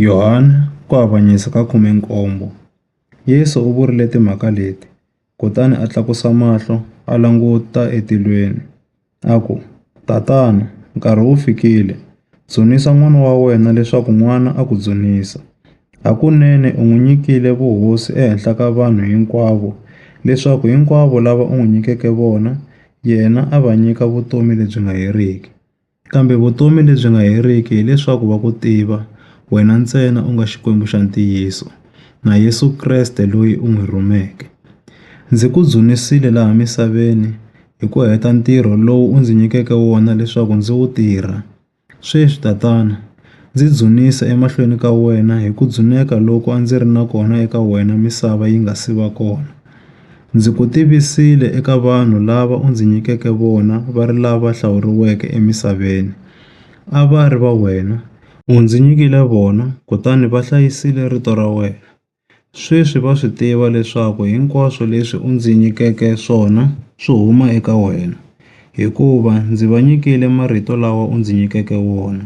Yohane, Ku Avanyisa ka 17, Yesu u vurile timhaka leti, kutani a tlakusa mahlo a languta etilweni, a ku, Tatana, nkarhi wu fikile. Dzunisa N'wana wa wena leswaku N'wana a ku dzunisa. Hakunene u n'wi nyikile vuhosi ehenhla ka vanhu hinkwavo, leswaku hinkwavo lava u n'wi nyikeke vona, yena a va nyika vutomi lebyi nga heriki. Kambe vutomi lebyi nga heriki hi leswaku va ku tiva, wena ntsena u nga Xikwembu xa ntiyiso, na Yesu Kreste loyi u n'wi rhumeke. Ndzi ku dzunisile laha misaveni hi ku heta ntirho lowu u ndzi nyikeke wona leswaku ndzi wu tirha. Sweswi, Tatana, ndzi dzunisa emahlweni ka wena hi ku dzuneka loku a ndzi ri na kona eka wena misava yi nga si va kona. Ndzi ku tivisile eka vanhu lava u ndzi nyikeke vona va ri lava hlawuriweke emisaveni, a va ri va wena. U ndzi nyikile vona, kutani va hlayisile rito ra wena. Sweswi va swi tiva leswaku hinkwaswo leswi u ndzi nyikeke swona swi huma eka wena, hikuva ndzi va nyikile marito lawa u ndzi nyikeke wona.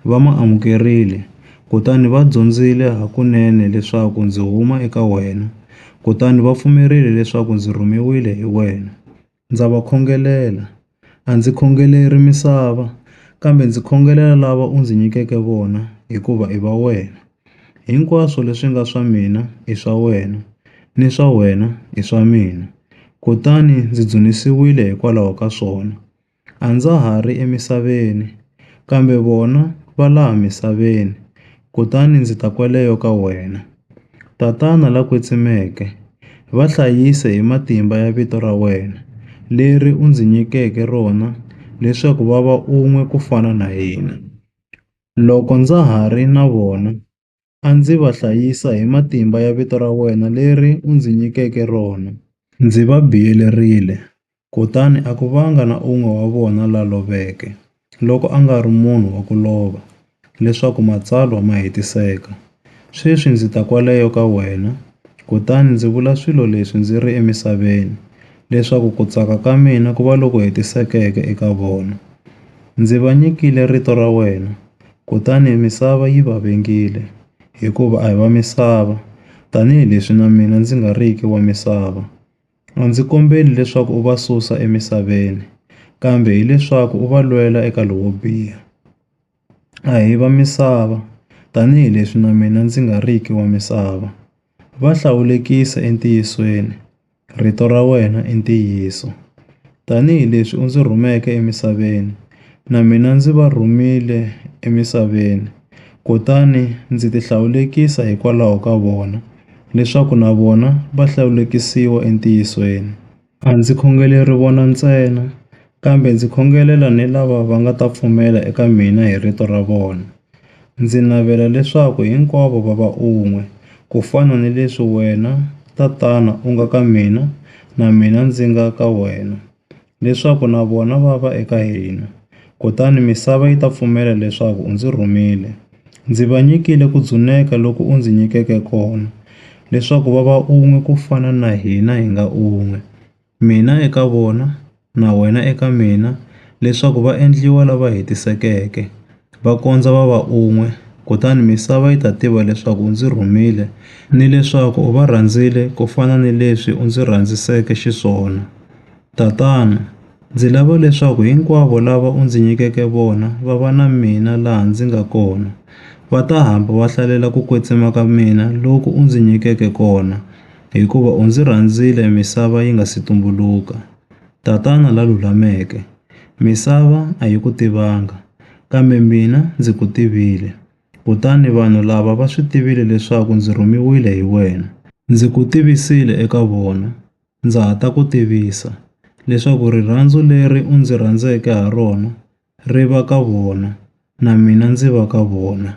Va ma amukerile, kutani va dyondzile hakunene leswaku ndzi huma eka wena, kutani va pfumerile leswaku ndzi rhumiwile hi wena. Ndza va khongelela. A ndzi khongeleri misava, kambe ndzi khongelela lava u ndzi nyikeke vona, hikuva i va wena. Hinkwaswo leswi nga swa mina i swa wena, ni swa wena i swa mina, kutani ndzi dzunisiwile hikwalaho ka swona. A ndza ha ri emisaveni, kambe vona va laha misaveni, kutani ndzi ta kwaleyo ka wena. Tatana la kwetsimeke, va hlayise hi matimba ya vito ra wena, leri u ndzi nyikeke rona leswaku va va un'we ku fana na hina, loko ndza ha ri na vona. a ndzi va hlayisa hi matimba ya vito ra wena leri u ndzi nyikeke rona. Ndzi va biyelerile, kutani a ku vanga na un'we wa vona la loveke, loko a nga ri munhu wa ku lova, leswaku matsalwa ma hetiseka. Sweswi ndzi ta kwaleyo ka wena, kutani ndzi vula swilo leswi ndzi ri emisaveni, leswaku ku tsaka ka mina ku va loku hetisekeke eka vona. Ndzi va nyikile rito ra wena, Kutani misava yi va vengile, hikuva a hi va misava, tanihi leswi na mina ndzi nga riki wa misava. A ndzi kombeli leswaku u va susa emisaveni, kambe hi leswaku u va lwela eka lowo biha. A hi va misava, tanihi leswi na mina ndzi nga riki wa misava. Va hlawulekise entiyisweni, Rito ra wena i ntiyiso. Tanihi leswi u ndzi rhumeke emisaveni, na mina ndzi va rhumile emisaveni, kutani ndzi tihlawulekisa hikwalaho ka vona, leswaku na vona va hlawulekisiwa entiyisweni. A ndzi khongeleri vona ntsena, Kambe ndzi khongelela ni lava va nga ta pfumela eka mina hi rito ra vona. Ndzi navela leswaku hinkwavo va va un'we, ku fana ni leswi wena, Tatana, u nga ka mina na mina ndzi nga ka wena, leswaku na vona va va eka hina, kutani misava yi ta pfumela leswaku u ndzi rhumile. Ndzi va nyikile ku dzuneka loku u ndzi nyikeke kona, leswaku va va un'we ku fana na hina hi nga un'we. mina eka vona, na wena eka mina, leswaku va endliwa lava hetisekeke, va kondza va va un'we, kutani misava yi ta tiva leswaku u ndzi rhumile, ni leswaku u va rhandzile ku fana ni leswi u ndzi rhandziseke xiswona. Tatana, ndzi lava leswaku hinkwavo lava u ndzi nyikeke vona va va na mina laha ndzi nga kona, va ta hamba va hlalela ku kwetsima ka mina loku u ndzi nyikeke kona, hikuva u ndzi rhandzile misava yi nga si tumbuluka. Tatana la lulameke, Misava a yi ku tivanga, kambe mina ndzi ku tivile, kutani vanhu lava va swi tivile leswaku ndzi rhumiwile hi wena. Ndzi ku tivisile eka vona, ndza ha ta ku tivisa, leswaku rirhandzu leri u ndzi rhandzeke ha rona ri va ka vona, na mina ndzi va ka vona.